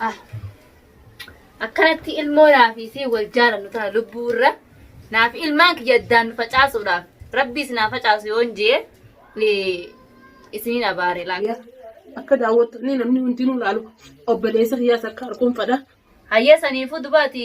Ah. Akkanatti ilmoo naa fi isii wal jaalannu tana lubbuu irra naa fi ilmaan kiyya addaan nu facaasuudhaaf rabbi isin haa facaasu yoon jee eh, isiniin abaare laata. Akka daawwattanii namni hundinuu laalu obboleessa kiyyaas akka arkuun fadha. Hayyee saniifuu dubaati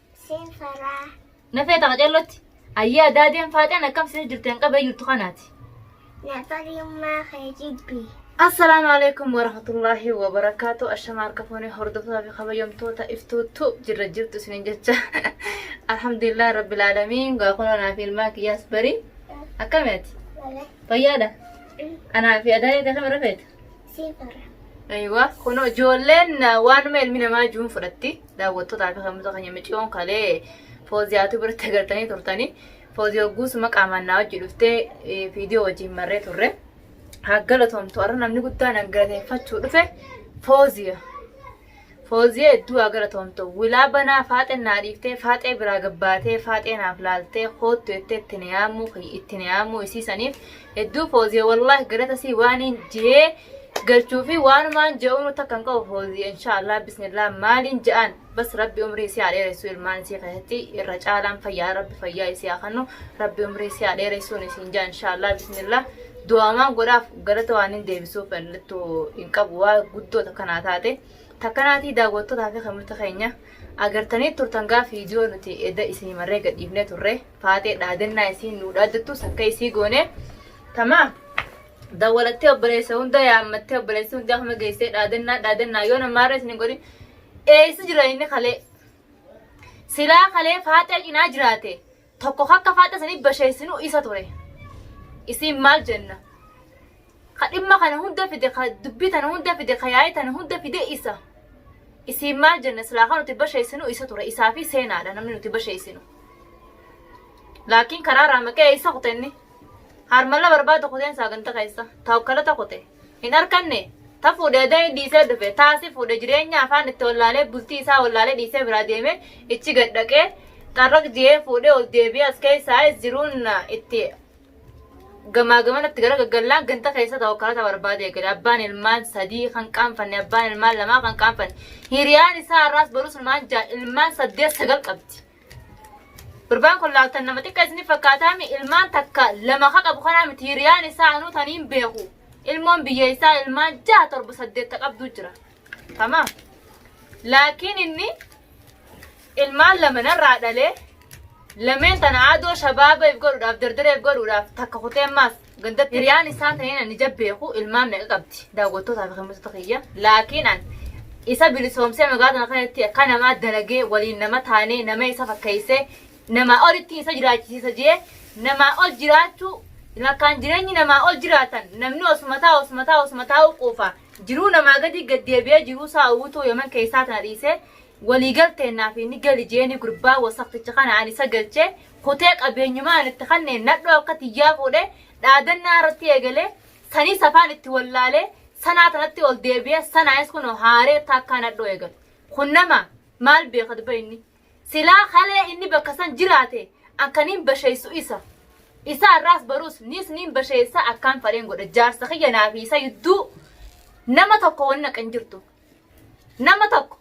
Siin faraa. Na feeta qaceellotti. Ayyee adaadeen faaxeen akkam sini jirteen qabee jirtu kanaati. Na fariummaa kee jibbi. Assalaamu alaikum warahmatullaahi wabarakaatu ashama harka fuunee hordoftoota fi kabajamtoota iftuutu jirra jirtu isinin jecha alhamdulillah rabbil aalamiin gaa kunoo naa fi ilmaan kiyyaas barii akkami ati Wala. fayyaadha anaa fi adaayee akkam irra feeta Siif irra. Aywa kunoo ijoolleen ah, waanuma ilmi namaa juun fudhatti daawwattootaa fi kamuusa keenya miciyoon kalee fooziyaatu biratti agartanii turtanii foozii hogguusuma qaamaan naa wajji dhuftee eh, viidiyoo wajjin marree turre haa galatoomtu har'a namni guddaan an galateeffachuu dhufe fooziya Fooziya hedduu haa galatoomtu. Wilaa banaa faaxen naa dhiiftee faaxee biraa gabbaatee faaxee naaf laaltee koottu jettee itti na yaamuu kiyya itti na yaamuu isii saniif hedduu fooziya wallaahi galata sii waaniin jee galchuu fi waanumaan je'uunu takka hin qabu fooziya inshaallah bismillah maaliin ja'aan bas rabbi umrii isii haa dheeressu ilmaan isii keessatti irra caalaan fayyaa rabbi fayyaa isii haa kannu rabbi umrii isii haa dheeressuun isiin ja'a inshaallah bismillah Du'aamaan godhaaf galata waan hin deebisuuf mallattu hin qabu waa guddoo takkanaa taate takkanaatii daawwattotaa fi kamirta keenya agartanii turtan gaaf viidiyoo nuti edda isinii marree gadhiifnee turre faatee dhaadannaa isiin nuu dhaaddattus akka isii goone tamaa dawwalattee obboleessa hunda yaammattee obboleessi hundi akkuma geessee dhaadannaa dhaadannaa yoo namaarra isin hin godhin eessa jira inni kalee silaa kalee faatee cinaa jiraate tokko akka faaxxa sanii basheessinu isa ture. Isiin maal jenna? Ka dhimma kana hunda fide, ka dubbii tana hunda fide, ka yaa'ii tana hunda fide isa. Isiin maal jenna? Silaa kan nuti basheessinu isa ture. Isaa fi seenaadha namni nuti basheessinu. Laakiin karaa raamaqee isa kutenni. Harmalla barbaada kuteen saaganta keessa. Taawukkalata kute. hin arkanne ta fuudhe adani dhiisee dhufe taa si fuudhe jireenya afaan itti wallaalee bultii isaa wallaalee dhiisee biraa deeme ichi gad dhaqee xarraq je'ee fuudhe ol deebi'ee as keessaayis jiruun itti gamaa gamana itti gara gaggallaan ganda keessa ta'u karaa ta barbaade eegale abbaan ilmaan sadii kan qaanfanne abbaan ilmaan lamaa kan qaanfanne hiriyaan isaa har'aas barus ilmaan ja'a ilmaan saddeet sagal qabdi. Gurbaan kun laattan nama xiqqa isin fakkaataami ilmaan takka lama ka qabu kanaa miti hiriyaan isaa anuu taniin beeku ilmoon biyya isaa ilmaan jaha torba saddeetta qabdu jira. Tama. Laakiin inni ilmaan lama narraa dhalee lameen tana adoo shabaabeef godhuudhaaf dardareef godhuudhaaf takka kutee maas Gandatti hiriyaan isaa ta'een ani ija beeku ilmaan meeqa qabdi daawwattootaa fi himmattoota kiyya. Laakiin an isa bilisoomsee magaalaa tana keessatti akka namaa dalagee waliin nama taanee nama isa fakkeessee namaa olitti isa jiraachisiisa jee namaa ol jiraachuu lakkaan jireenyi namaa ol jiraatan namni osuma taa'u osuma taa'u osuma taa'u quufa jiruu namaa gadi gaddeebi'ee jiruu isaa uwwituu yaman keessaa tana dhiisee walii galteen naaf inni gali jeeni gurbaa wasaqticha kana ani isa galchee kutee qabeenyumaa an itti kanneen nadhoo akka tiyyaa fuudhee dhaadannaa irratti eegalee sanii safaan itti wallaalee sanaa tanatti ol deebi'ee sanaayis kunoo haaree taakkaa nadhoo eegale. Kun nama maal beeka dubba inni. Silaa kalee inni bakka san jiraate akka niin basheessu isa. Isa irraas baruus niis niin basheessa akkaan fadheen godha jaarsa kiyya naa fi isa yudduu nama tokko wanni akka hin jirtu. Nama tokko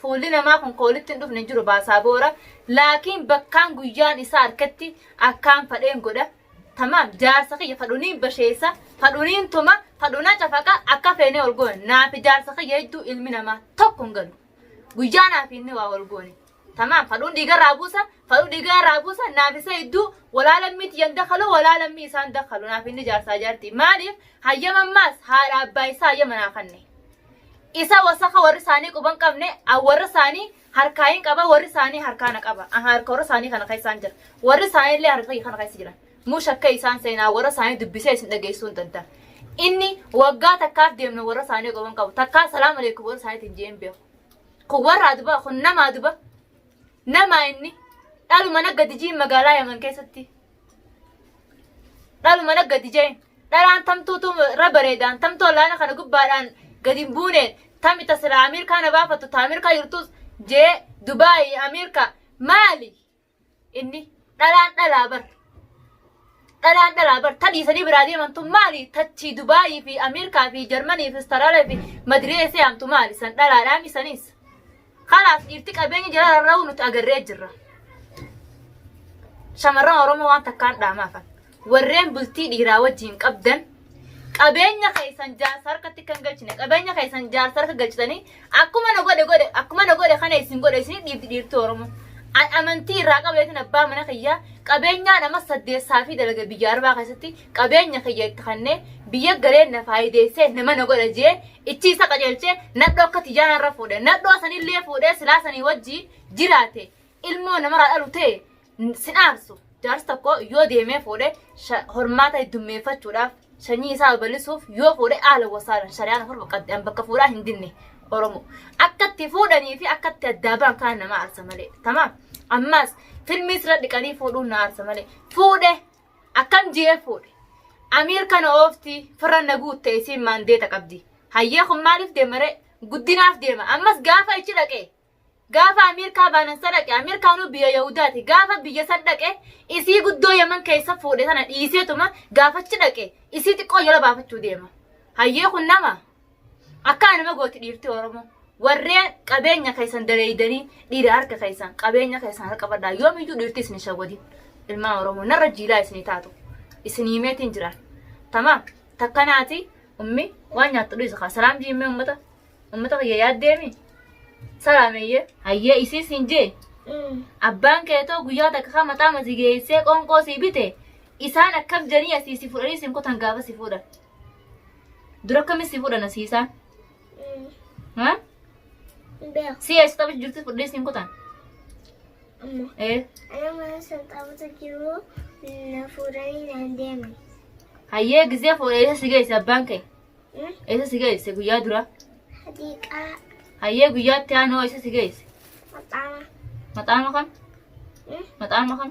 Fuulli namaa kun ka wolitti hin dhufne hin jiru Baasaaboora, laakiin bakkaan guyyaan isaa arketti akkaan fadheen godha. Tamaam, jaarsa kiyya fadhuniin basheessa, fadhuniin tuma, fadhuna cafaqa, akka feenee wol goona. Naafi jaarsa kiyya jidduu ilmi namaa tokko hin galu. Guyyaa naafi inni waa wol goone. Tamaam, fadhuun dhiiga irraa buusa, fadhuu dhiiga irraa buusa, naafi isa jidduu wolaa lammii tiyya hin dakhalu, wolaa lammii isaa hin dakhalu, naafi inni jaarsaa jaartii. Maaliif? Hayyama ammaas haadha abbaa isaa hayyama naa kanne. Isa wasaka warri isaanii quban qabne an warra isaanii harkaa hin qaba warri isaanii harkaa na qaba an harka warra isaanii kana keessaan jira warri isaanii illee harka kana keessa jira mush akka isaan seenaa warra isaanii dubbisee isin dhageessuu hin danda'a. Inni waggaa takkaaf deemna warra isaanii quban qabu takkaa salaam aleekum warra isaaniitiin je'een beeku. Kun warra aduba kun nama aduba nama inni dhaluma nagga dijiin magaalaa yaman keessatti dhaluma na gadi jeen dhalaan tamtuutu irra bareedaan tamtuu olaana kana gubbaadhaan gadi hin buuneen tami tasiraa Ameerikaa na baafattu ta Ameerikaa jirtus jee Dubaayi Ameerikaa maali inni dhalaan dhalaa bar dhalaan dhalaa bar tadhiisanii biraa deemantu maali tachii Dubaayii fi Ameerikaa fi Jarmanii fi Istaraalaa fi Madiree see'amtu maali san dhalaadhaa misaniis Kanaaf dhiirti qabeenya jala rarra'uu nuti agarree jirra. Shamarran Oromoo waan takkaan dhaamaafan. Warreen bultii dhiiraa wajjin qabdan qabeenya keessan jaarsa harkatti kan galchine qabeenya keessan jaarsa harka galchitanii akkuma na godhe godhe akkuma na godhe kana isin godhe isin dhiibdi dhiirti Oromoo. An amantii irraa qabeetin abbaa mana kiyyaa qabeenyaan amma saddeessaa fi dalaga biyya arbaa keessatti qabeenya kiyya itti kannee biyya galee na faayideessee nama na godha jee ichi isa qajeelchee nadhoo akka tiyyaa narra fuudhe nadhoo sanillee fuudhee silaa sanii wajji jiraate ilmoo namarraa dhalu ta'e sin aarsu jaarsi tokko yoo deemee fuudhe hormaata heddummeeffachuudhaaf sanyii isaa babal'isuuf yoo fuudhe haala wasaalan shari'aan afur baqqadde bakka fuudhaa hin dinne oromoo akkatti fuudhanii fi akkatti addaa ba'an kaan nama aarsa malee tamaam ammaas filmii sirra dhiqanii fuudhuun na aarsa malee fuudhe Akkam GF fuudhe. Amiir kana oofti firra na guutte isiin maandeeta qabdi. Hayyee kun maaliif deema ree? Guddinaaf deema. Ammas gaafa achi dhaqe. Gaafa Ameerikaa baanan sa dhaqe. Ameerikaanuu biyya Yahudaati. Gaafa biyya san dhaqe isii guddoo Yaman keessa fuudhe sana dhiiseetuma gaafa achi dhaqe isii xiqqoo jala baafachuu deema. Hayyee kun nama Akkaa nama gooti dhiirti Oromoo. Warreen qabeenya keessan daleeydanii dhiira harka keessan qabeenya keessan harka qabadhaa yoomiyyuu dhiirti isin shawadin. Ilmaa Oromoo narra jiilaa isinii taatu. Isin himeetiin jiraan. Tamaam takkanaati ummi waan nyaattu dhiisa kaa salaam jiimmee ummata ummata kiyya yaaddeemi salaameeyyee. Hayyee isii siin jee abbaan keetoo guyyaa takka kaa mataa masigeessee qoonqoo sii bite isaan akkam janii asii si fudhanii siin kutan gaafa si fuudhan. Dura akkamiin si fuudha nasiisaan? Ha? Si eessa taphatu jirtu fudhee siin kutan? Ee. Hayyee gizee fuudha eessa si geesse abbaan kee? Eessa si geesse guyyaa dura? Hayyee guyyaatti aanoo eessa si geesse? Maxaama kam? Maxaama kam?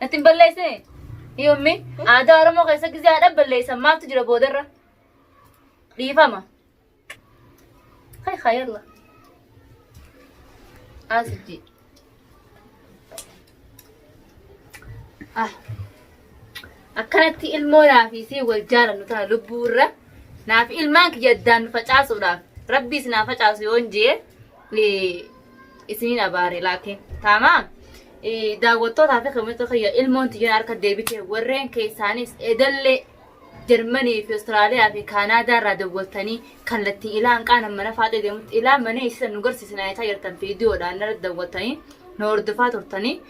Natti hin balleessine. Yommi aadaa Oromoo keessa gizee haadha balleessan maaltu jira boodarra? Dhiifama. Hay haa yalla. Asijji. Ah. Akkanatti ilmoo naafii si wal jaalannu tana lubbuurra naaf ilmaan kiyya addaan nu facaasuudhaaf rabbiis naa facaasu yoon jee isiniin abaare laakiin taamaa daawwattootaa fi kamitti kiyya ilmoon tiyyan harka deebite warreen keessaanis edallee Jarmanii fi Awustiraaliyaa fi Kaanaadaa irraa dawwattanii kallattii ilaa hanqaana mana faaxee deemutti ilaa mana eessisa nu garsiisina eetaa jirtan viidiyoodhaan irra dawwattanii nu hordofaa turtanii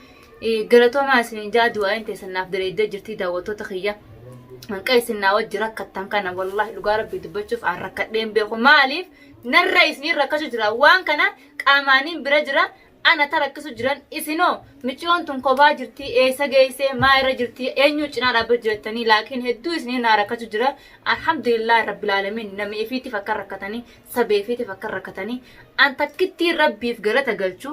galatoomaa isiniin jaa du'aayin teessan naaf diriiddee jirtii daawwattoota kiyya. Hanqa isin naa wajji rakkattan kana wallaahi dhugaa rabbii dubbachuuf aan rakkadheen beeku maaliif Narra isniin rakkachu jira waan kana qaamaanin bira jira ana ta rakkisu jiran isinoo miciyoon tun kopaa jirtii eessa geessee maa irra jirtii eenyuu cinaa dhaabbachu jettanii laakiin hedduu isniin naa rakkachu jira alhamdulillah rabbil alamin nami ifiitiif akka rakkatanii sabeefiitiif akka rakkatanii an takkittii rabbiif galata galchu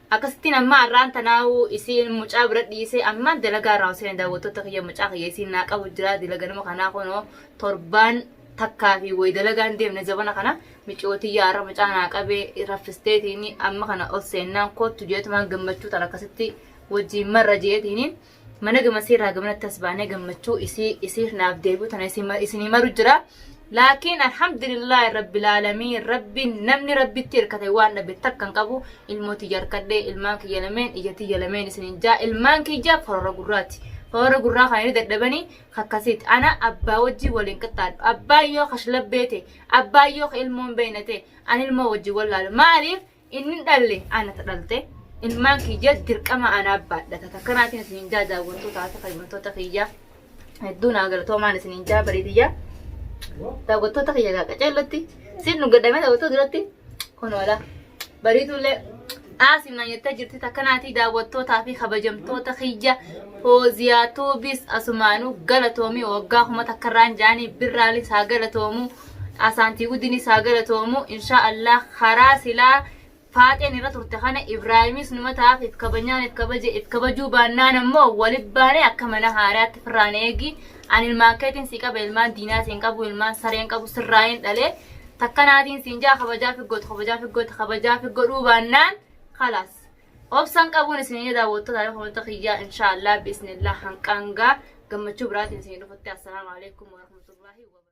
Akkasittiin ammaa arraan tanaa'uu isiin mucaa bira dhiisee ammaan dalagaa irraa hoseene daawwattoota kiyya mucaa kiyya isiin naa qabu jira dila ganama kanaa kunoo torbaan takkaa fi wayi dalagaan deemne zabana kana miciyoo tiyya arra mucaa naa qabee raffisteetiini amma kana ol seennaan koottu jeetumaan gammachuu tan akkasitti wajjiin marra jeetiini mana gamasii irraa gamanatti as baanee gammachuu isii isiif naaf deebi'u tana isin- isinii maru jira laakiin alhamdulillah rabbil aalamiin rabbiin namni rabbitti hirkate waan dhabe takka hin qabu ilmoo tiyya harkadhe ilmaan kiyya lameen ija tiyya lameen isinin jaa ilmaan kiyya korora gurraati korora gurraa kana ni dadhabanii kakkasiiti ana abbaa wajjii waliin qixxaadhu abbaan yoo kashlabbee ta'e abbaan yoo ka ilmoon beeyna ta'e ani ilmoo wajjin wallaalu maaliif Inni dhalle ana ta dhalte, ilmaan kiyya dirqama anaaf baadhata. Takka naatiin isiniin jaa daawwattoota fi kabajamtoota kiyya. Hedduu naa galatoomaan isiniin jaa barii tiyya. Daawwattoota kiyya gaa qaceellatti siin nu gadhamee daawwattoota duratti kun oola. Bariituullee aasiin naan jettee jirti takka naatii daawwattootaa fi kabajamtoota kiyya fooziyaa tuubis asumaanuu galatoomii waggaa kuma takkarraan jaanii birraalis haa galatoomuu. Asaantii guddini saa galatoomu inshaa Allah karaa silaa faaxeen irra turte kana Ibraahimis numa taaf if kabanyaan if kabaje if kabajuu baannaan ammoo walit baane akka mana haaraatti firraan eegi an ilmaan keetiin si qaba ilmaan diinaa siin qabu ilmaan sareen qabu sirraa hin dhale takkanaatiin siin jaa kabajaa fi gootu kabajaa fi gootu kabajaa fi godhuu baannaan kalaas obsan qabuun isin ni daawwattu taa'ee kunuunta kiyyaa inshaa Allah bismillah hanqaangaa gammachuu biraatiin isin dhufutti assalaamu alaikum warahmatullahi wabarakatuh